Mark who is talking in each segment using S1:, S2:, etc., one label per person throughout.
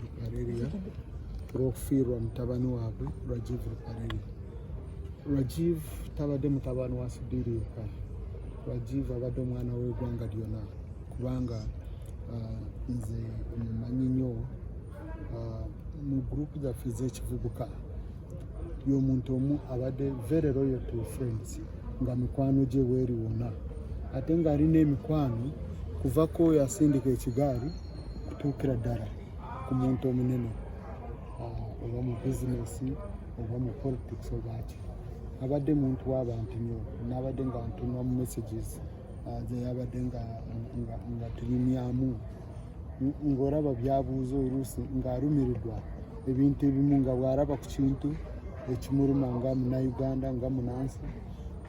S1: Ruparelia olw'okufiirwa mutabani waabwe Rajiv Ruparelia. Rajiv tabadde mutabani wa Sudhiri yekka. Rajiv abadde omwana w'eggwanga lyonna kubanga uh, nze mumanyi nnyo uh, mu gurupu zaffe ez'ekivubuka y'omuntu omu abadde very loyal to friends nga mikwano gye weeri wonna ate ng'alina emikwano kuva kwoyo asindika ekigaali kutuukira ddala ku muntu omunene ah, oba mu bizinesi oba mu politics obaaki abadde muntu w'abantu nyo nabadde nga ntunwa mu messages ah, zeyabadde nga tunyumyamu ng'olaba byabuuza oluusi ng'alumirirwa ebintu ebimu nga bw'alaba ku kintu ekimuluma nga munauganda nga munansi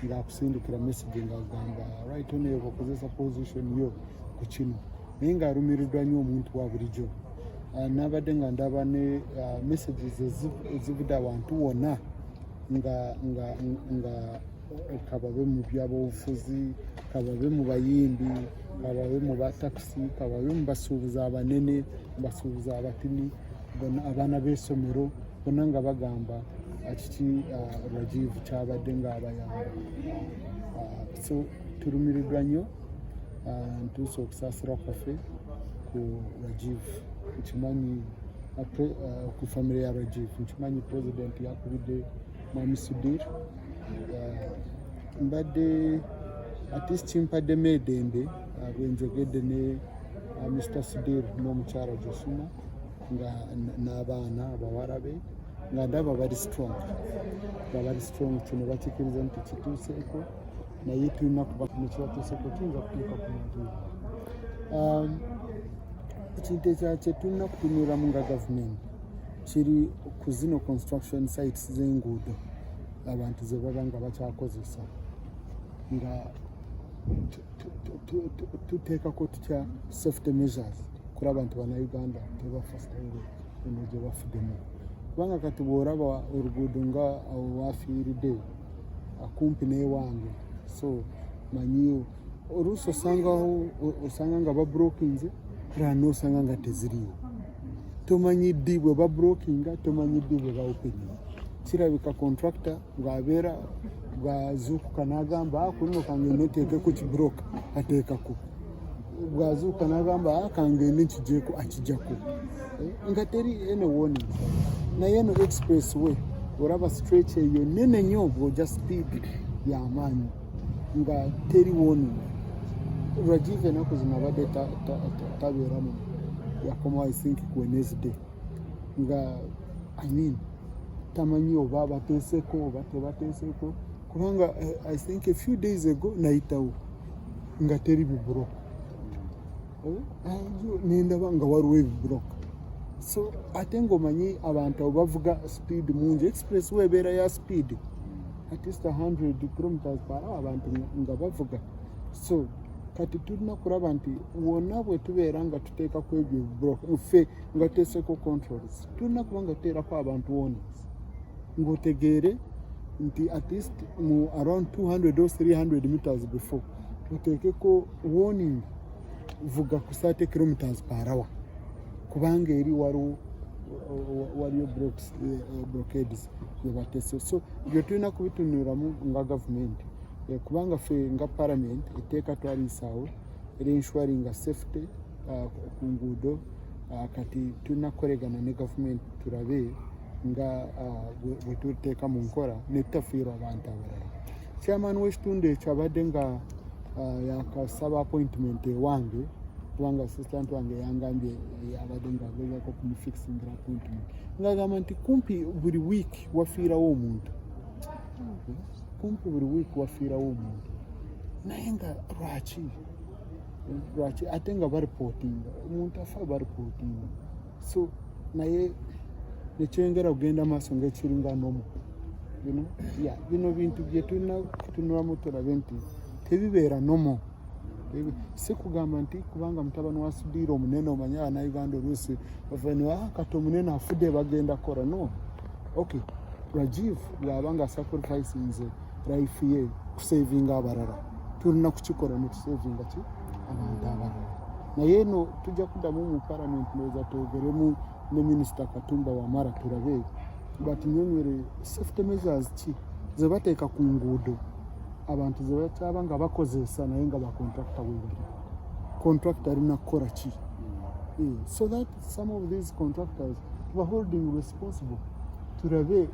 S1: ng'akusindikira message ng'agamba right oneyo bakozesa position yo ku kino naye nga alumiriddwa nnyo omuntu wa bulijjo ah, nabadde nga ndaba ne ah, messages ezivudde awantu wonna nga nga nga kababe mu byabobufuzi kababe mu bayimbi kababe mu batakisi kababe mu basuubuzi abanene basuubuzi abatini abaana b'esomero bona nga bagamba kiki ah, rajivu kyabadde ng'abayamba ah, so tulumiriddwa nnyo uh, ntuuse okusaasira kwaffe ku rajiv nkimanyi uh, uh, ku famire ya rajiv nkimanyi president yakubidde mwami sudir mbadde atist kimpaddemu edembe bwenjogedde ne mr sudir n'omukyala josuma nga n'abaana abawala be nga ndaba bali strong nga bali strong kino bakikiriza nti kituuseeko naye tulina kuba kino kibatuuseko kiyinza kutuuka ku muntu um, ekintu ekya kyetulina kutunulamu nga gavumenti kiri ku zino construction sites z'enguudo abantu ze baba nga bakyakozesa nga tuteekako tutya safety measures kuri abantu banauganda tebafa sitayiro eno gye bafudemu kubanga kati bw'oraba oluguudo nga awo wafiiridde akumpi n'ewange so manyiyo oluusi osangawo osanga nga babrokinze era nosanga nga teziriyo tomanyi ddi bwe babrokinga tomanyi ddi bwe baopeni kirabika contracta bwabeera bwazuukuka n'agamba ah, kuno kange neteeke ku kibroka ateekako bwazuuka n'agamba akangende ah, nkijeko akijako eh, nga teri ene woni naye eno express way olaba stretch eyo nene nyo bwoja speed yamaanyi nga teri woni rajiv enaku zino abadde tabeeramu yakoma i think wednesday nga i mean tamanyi oba abateeseko oba tebateeseko kubanga eh, i think a few days ago nayitawo nga teri bibuloka nendaba nga waliwo ebibuloka so ate ngaomanyi abantu abo bavuga speed mungi express we ebeera ya speed at least 100 kilometers per hour abantu nga bavuga so kati tulina kulaba nti wonna bwe tubeera nga tuteeka ku ebyo ebibuloka ffe nga tuteeseko controls tulina kuba nga tuteerako abantu wona ngotegeere nti at least mu around 200 or 300 meters before oteekeko warning vuga ku 30 kilometers per hour kubanga eri waliwo waliyo eh, blockades yebatese so ebyo tulina kubitunulamu nga gavumenti eh, kubanga fe nga parliament eteeka twaliisaawo eri ensuringa safety uh, ku nguudo uh, kati tulina kukoregana ne gavumenti tulabe nga bwetuteeka mu nkola netutafiirwa abantu abalala chairman w'ekitundu ekyo abadde nga yakasaba appointment ewange kubanga assistant wange yangambye abadde nga agezako kumufixingira appointment ngagamba nti kumpi buli week wafiirawo omuntu kumpi buli wiiki wafiirawo omuntu naye nga lwaki lwaki ate nga baripotinga omuntu afa baripotinga so naye nekyengera kugenda maaso ngaekiringa nomu bino bintu byetulina kutunulamu tulabe nti tebibeera nomu si kugamba nti kubanga mutabani wa sudiira omunene omanye abanauganda oluusi ovaniwa ah, kati omunene afudde bagenda kora no ok rajiv bwaba nga sacrifice nze life ye kusavinga abarara tulina kukikola netusavinga ki abantu abarara naye eno tujja kuddamu mu parliament noza twogeremu ne minisita katumba wamara turabe batunyonyere safety measures ki zebateeka ku nguudo abantu zebakyaba nga bakozesa naye nga bakontrakta webali kontrakta alina kukola ki hmm. eh, so that some of these contractors tuba holding responsible turabe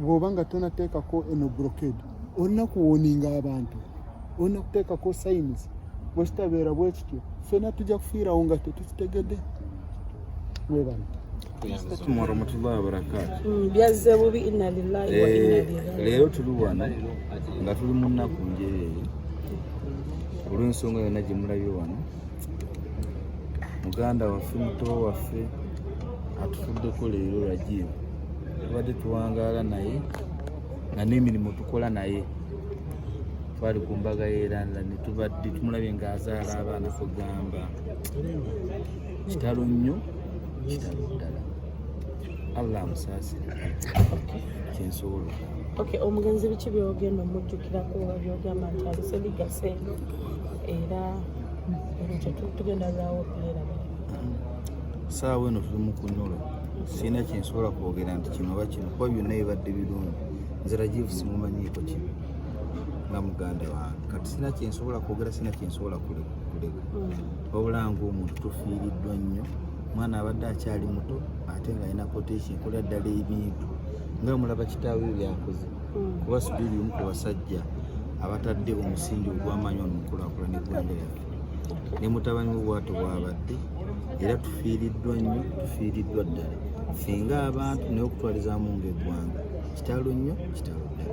S1: bwoba nga tonateekako eno brokade olina kuwoninga abantu olina kuteekako sayinizi bwekitabeera bwekityo fena tujja kufiirawo nga tetukitegedde mwebana mm,
S2: byazze bubi inna lillahi wa inna eh,
S3: ilaihi leero tuli
S2: wano nga tuli mu nnaku njereere olw'ensonga yonna gye mulabye wano muganda waffe muto waffe atufuddeko leero rajibu tubadde tuwangaala naye nga n'emirimu tukola naye twali ku mbaga yeranda netubadde tumulabye nga azaala abaana kugamba kitalo nnyo kitalo ddala allah amusaasire kyensobola
S3: omugenzi biki byogenda omujjukirako byogamba nti abiseligase era tugenda lwawo
S2: pulera saawa eno tuli mu kunyolo sirina kyensobola kwogera nti kino oba kino kuba byonna bibadde birungi nze rajivu simumanyiiko kino nga muganda wange kati sirina kyensobola kwogera sirina kyensobola kuleka hmm. wabula ngaomuntu tufiiriddwa nnyo omwana abadde akyali muto ate ng'alina koteeki nkola ddala ebintu nga mulaba kitaawe byakoze kuba Sudhiri omu ku basajja abatadde omusingi ogw'amaanyi ono mukulaakulana eggwanga lyaffe ne mutabani we bwato bwabadde era tufiiriddwa nnyo tufiiriddwa ddala ffe ng'abantu naye okutwalizaamu ng'eggwanga kitalo nnyo kitalo ddala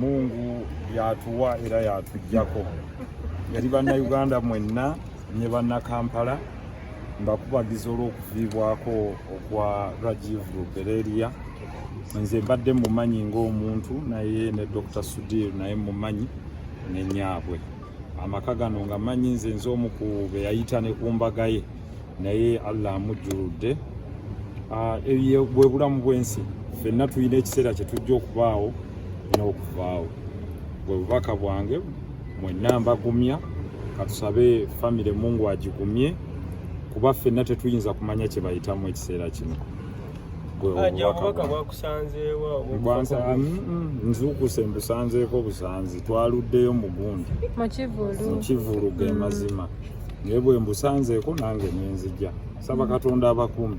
S2: mungu
S4: yatuwa era yatujjako yali bannayuganda mwenna ne bannakampala mbakubagiza olw'okuviibwako okwa Rajiv Rubereria nze mbadde mumanyi ng'omuntu naye ne Dr. Sudir naye mumanyi ne nyaabwe amaka gano nga manyi nze nze omu ku be yayita ne ku mbaga ye naye Allah amujjuludde ah, ebye bwe bulamu bw'ensi fenna tulina ekiseera kye tujja okubaawo n'okuvaawo bwe bubaka bwange mwenna mbagumya katusabe famire mungu agigumye kuba ffenna tetuyinza kumanya kye bayitamu ekiseera kino nzuukuse mbusanzeeko busanzi twaluddeyo mugundi mukivulu ge mm. mazima naye bwe mbusanzeeko nange nenzija saba katonda abakumi